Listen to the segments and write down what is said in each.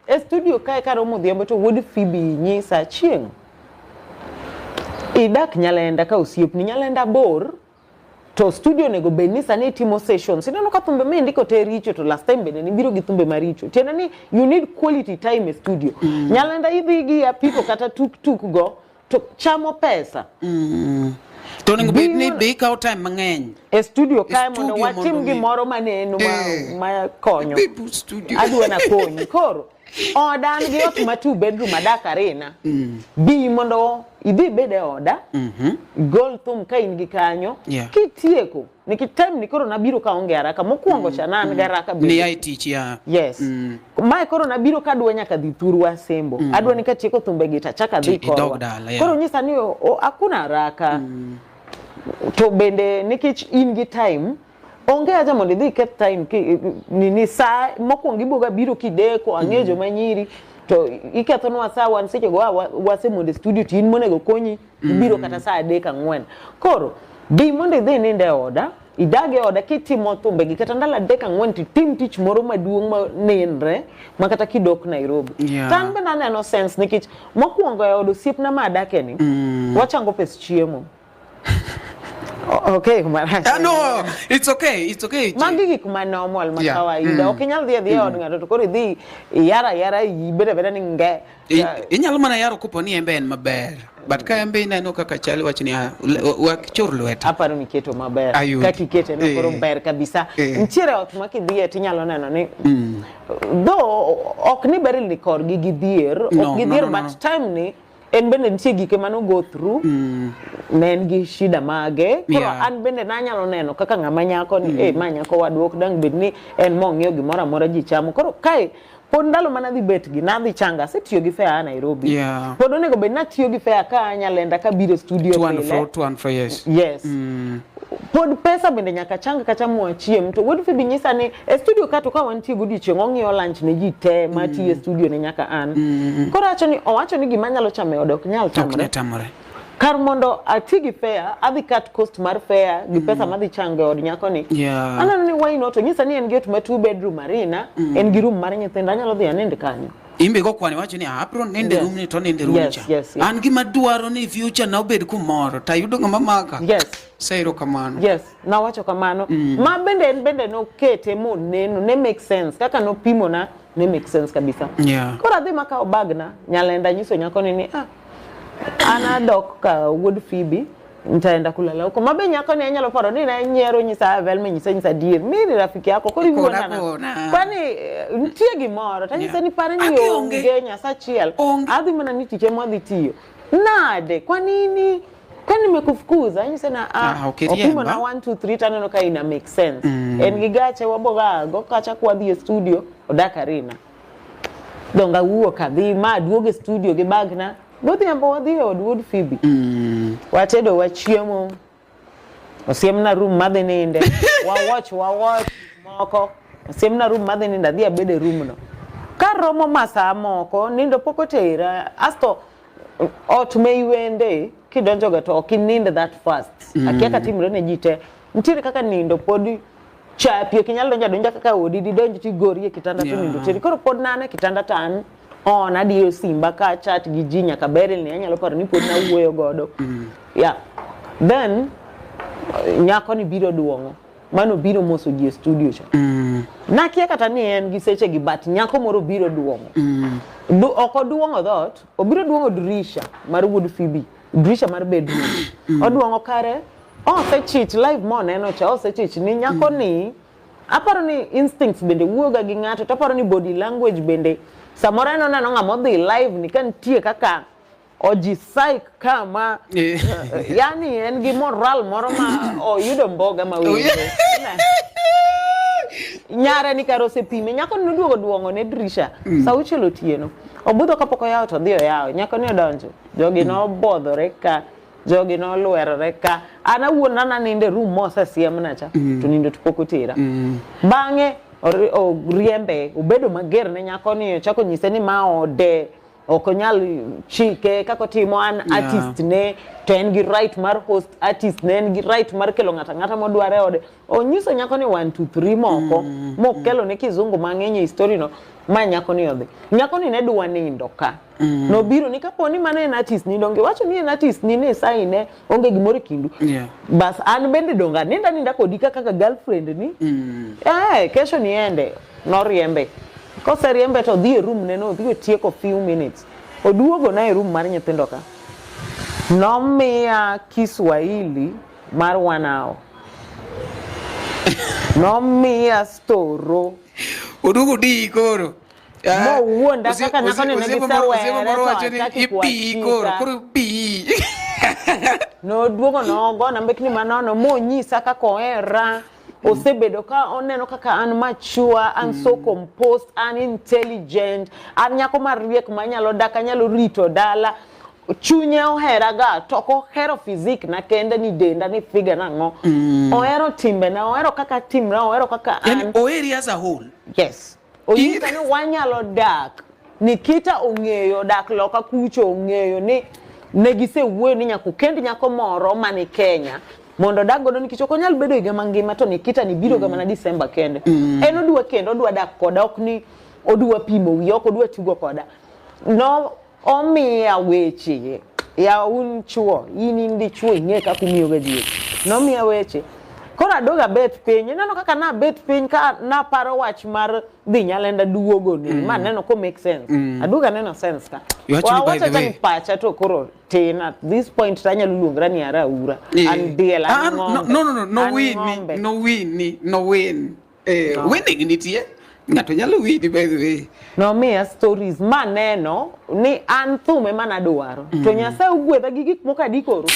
e studio kae karomo odhiambo to wuod Phoebe nyisa chieng' idak Nyalenda ka osiepni Nyalenda bor to studio onego bed ni sani itimo sessions ineno ka thumbe ma indiko te richo to last time bende nibiro gi thumbe maricho tiende ni you need quality time e studio mm. Nyalenda idhi gi apiko kata tuktuk go to chamo pesa mm. to onego bed ni be ikawo time mang'eny e studio kae mondo watim gimoro ma nenu eh. ma konyo adwa na konyi koro oda an gi ot ma two bedroom adak arena mm. bi mondo idhi bed e oda mm-hmm. gol thum ka in gi kanyo kitieko Niki time ni koro nabiro ka onge haraka mokwongo cha na an gi haraka bende. Ni ai tich ya. Yes. Mm. Mae koro nabiro ka adwa nyaka dhi thuru asembo. Adwa ni katieko thumbe gi tachaka dhi Ti- idog korwa. dala, yeah. Koro nyisa ni o- o- hakuna haraka. To bende nikech in gi time onge haja mondo idhi iketh time ki- nini saa mokwongo iboga biro kideko ang'eyo joma nyiri to ikethonwa saa wan sechego a wa- wasemondo e studio to in monego konyi mm. ibiro kata saa adek ang'wen koro bi mondo idhi ninde oda idag e oda kitimo thumbegi kata ndalo adek ang'wen titim tich moro maduong' ma nenre ma kata kidok Nairobi yeah. to an bende aneno sense nikech mokwongo e od osiepna ma adake ni mm. wachango pes chiemo Okay, marach. Ah, no, it's okay, it's okay. Magi gik ma normal ma kawaida. Mm. Ok inyal dhi adhiya mm. od ng'ato to koro idhi yara yara ibeda beda ni nge. Inyalo mana yaro kopo ni embe en maber. But ka embe ineno kaka chali wach ni ah, wak chur lweta. Aparo ni keto maber. Ka kikete no koro eh. ber kabisa. Eh. Nitiere ot ma kidhiye tinyalo neno ni. Mm. Though ok ni ber ni kor gi gidhier, ok gidhier but time ni en bende nitie gike mane ogo through mm. ne en gi shida mage koro yeah. an bende nanyalo neno kaka ng'ama nyako ni mm. eh, ma nyako wadwa ok dang bed ni en mong'eyo gimoro amora ji chamo koro kae pod ndalo mana dhi bet gi na dhi changa se tiyo gi fair a Nairobi yeah. pod onego bed na tiyo gi fair ka anya lenda ka biro studio to and fro to and fro yes yes mm. pod pesa bende nyaka changa kata mwa chiem to wuod fibi nyisa ni e studio ka to ka wan tiyo gudi chieng ong'iyo lunch ne ji te ma mm. tiyo e studio ne nyaka an mm. koro acho ni owacho ni gima nyalo chame odok nyal tamre kar mondo ati gi fare adhi cut cost mar fare gi mm. pesa madhi chango e od nyako ni yeah. aneno ni why not onyisa ni en gi ot ma two bedroom arena mm. en gi room mar nyithindo anyalo dhi anend kanyo imbe go kwani wacho ni ah, abro nende yes. room ni to nende room yes, cha yes, yes. an gima dwaro ni future na obed kumoro to ayudo ng'ama maka yes sairo kamano yes na wacho kamano mm. ma bende en bende nokete moneno ne make sense kaka nopimona ne make sense kabisa yeah. koro adhi makawo bagna nyalenda nyiso nyakoni ni ah, an adok ka wuod Phoebe nitaenda kulala huko mabe nyako ni anyalo paro ni na nyero nyisa velme nyisa nyisa dier mi ni rafiki yako kori wuona na kwani eh, nitie gimoro ta nyisa ni pare ni onge nyasa chiel adhi mana ni tije mwadhi tiyo nade kwa nini kwani nimekufukuza yani sana ah, ah okay, opimo na 1 2 3 tano no kaina make sense mm. en gigache waboga go kacha kwa the studio odaka rina donge awuok adhi ma aduog e studio gi bagna godhiambo wadhi e od wuod Phoebe mm. watedo wachiemo osiemna room madhi ninde wawach wawach moko osiemna room madhi ninde adhi abed e room no ka romo masaa moko nindo pok otera asto ot ma iwende kidonjoga to ok ininde that fast mm. akia ka timre ne ji te nitiere kaka nindo pod chapi ok inyal donjo adonja kaka odi didonj ti gori e kitanda yeah. tonindo teri koro pod nane kitanda tan on adiyo simba ka chat gi ji nyaka beril ni anyalo paro ni pod nawuoyo godo mm. yeah. then nyako ni biro duong'o mano biro moso ji e studio cha mm. nakia kata ni en gi seche gi but nyako moro biro duong'o mm. du, ok oduong'o dhot obiro duong'o dirisha mar wuod fibi dirisha mar bedroom mm. oduong'o kare Osechich live mo neno cha osechich ni nyako mm. ni aparo ni instincts bende wuoga gi ng'ato to aparo ni body language bende samoro en oneno ng'ama odhi live ni ka nitie kaka oji psych kama eh. yani en gi moral moro ma oyudo mboga ma winjo nyare ni kar osepime nyako ni oduogo duong'o ne dirisha mm. sa auchiel otieno obudho kapok oyawo to odhi oyawo nyako ni odonjo jogi mm. nobodhore ka jogi nolwerore ka an awuon nana ninde room mosesiemna cha mm. to nindo to pok otera mm. bang'e oriembe obedo mager ne nyako ni ochako nyise ni ma ode ok onyal chike kaka otimo an yeah. artist ne to en gi right mar host artist ne en gi right mar kelo ng'ata ng'ata modware ode onyiso nyako ni one two three moko mm. mokelo ne kizungu mang'eny e story no ma nyako ni odhi nyako ni ne dwa nindo ka Mm. Nobiro ni kapo ni mano en artist ni donge wacho ni en artist ni ne sai ne onge gimoro e kindu. Yeah. Bas an bende donga ninda ninda kodi kaka ka girlfriend ni. Mm. Eh, kesho niende. Noriembe. Koseriembe to dhi e room ne no dhi tieko few minutes. Oduogo na e room mar nyithindo ka. Nomiya Kiswahili mar one hour. Nomiya storo. Oduogo di koro. Eh, mo wuonda kaka nyako ni negi sawere to achaki kuachika koro pi noduogo nogona mbekni manono monyisa kaka ohera osebedo ka oneno kaka an mature an so mm. composed an intelligent an nyako mariek manyalo dak anyalo rito dala chunye ohera ga to ok ohero fizik na kende ni denda ni figa na ngo mm. ohero timbe na ohero kaka timra ohero kaka an oheri as a whole yes Onyisa ni wanyalo dak. Nikita ong'eyo dak loka kucho ong'eyo ni ne gisewuoyo ni nyaka okend nyako moro man e Kenya mondo odag godo nikech ok onyal bedo higa mangima to Nikita ni biro ga mana Disemba kende. En odwa kendo odwa dak koda ok ni odwa pimo wiye ok odwa tugo koda. No Omiya weche ya un chuo, in in dichuo ing'e kaka umiyoga ji weche. Nomiya weche koro adog abet piny ineno kaka nabet piny ka naparo wach mar dhi nyalenda duogo ni mm. ma neno ko make sense mm. aduog aneno sense ka wawacho ka pacha to koro tin at this point to anyalo luongra ni ara ura yeah. an diel an ah, ah, ng'ombe no no no no win ni no win ni no win Eh, no. winning nitie ng'ato nyalo winni by the way nomiya stories maneno ni an thum ema nadwaro mm. to nyasaye ogwedha gi gik moko adi koro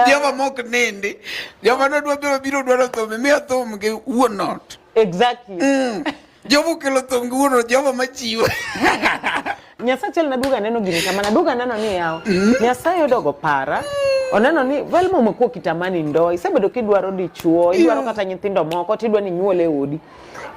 joma mok nindi joma nodwa biro biro dwaro thum imiyo thum gi wuon ot exactly mm. Jomo kelo thonguno, jomo machiwo. Nyasaye chel na duga neno gini kama na duga neno ni yao. Mm. Nyasaye odogo para. Oneno ni vel mo mko kitamani ndo. Isebedo kidwaro dichuo, idwaro kata nyithindo moko, tidwa ni nyuole e odi.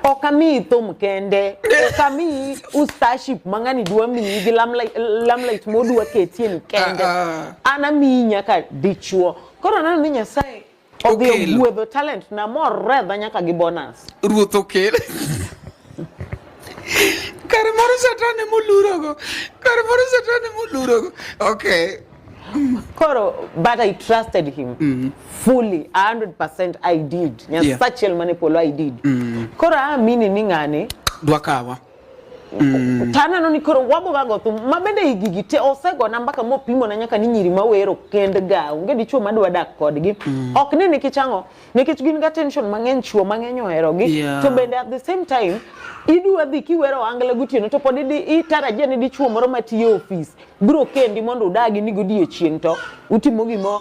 Okami thum kende, okami ustaship mangani dwa mi gi lamlight lamlight modwa ketie ni kende. Ah, ah. Ana mi nyaka dichuo. Koro neno ni Nyasaye Odhi Okelo. ogwedho talent na moredha nyaka gi bonus. ruoth okel kare moro satan ema olurogo kare moro satan ema olurogo okay Koro but I trusted him fully 100% I did. Nyasachiel mane polo I did. Koro aamini ni ng'ani dwakawa Mm. To aneno ni koro wago wago thum ma bende higi gi te osegona mbaka mopimo na nyaka ni nyiri ma wero kend ga onge dichuo ma dwa dak kodgi. Mm. Ok ni nikech ang'o nikech gin ga tension mang'eny chuo mang'eny ohero gi yeah. to bende at the same time idwa dhi kiwero angla gotieno to pod itarajia ni dichuo moro matiyo ofis biro kendi mondo udagi ni godiechieng' to utimo gimo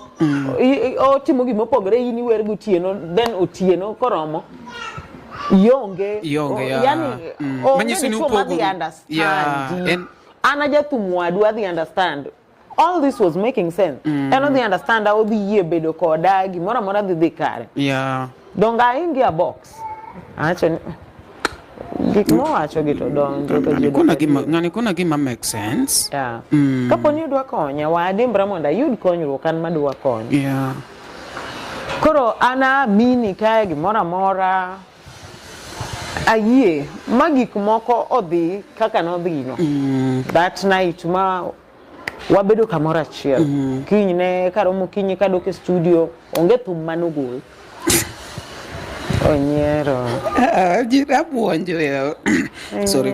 otimo gimo pogre in iwer gotieno then otieno koromo ionge Ionge, yeah. yani Mm. onge Manyiso ni dichuo madhi upogo- understand Yeah, you. en- an ajathum wadu adhi understand all this was making sense en odhi understand odhi yie bedo koda gimoro amora dhi dhi kare Yeah. Donge aingi a box? Acho ni gik mowacho gi to donjo to ji kuna gima ngani kuna gima make sense yeah. mm. kapo ni udwa konya wadimbra mondo ayud konyruok an madwa konya yeah. koro ana mini kae gimoro amora ayie ma gik moko odhi kaka nodhino mm. that night ma wabedo kamoro achiel mm -hmm. kinyne karomo kinyi kadok e studio onge thum manogol onyiero ah, jirabuonjo sorry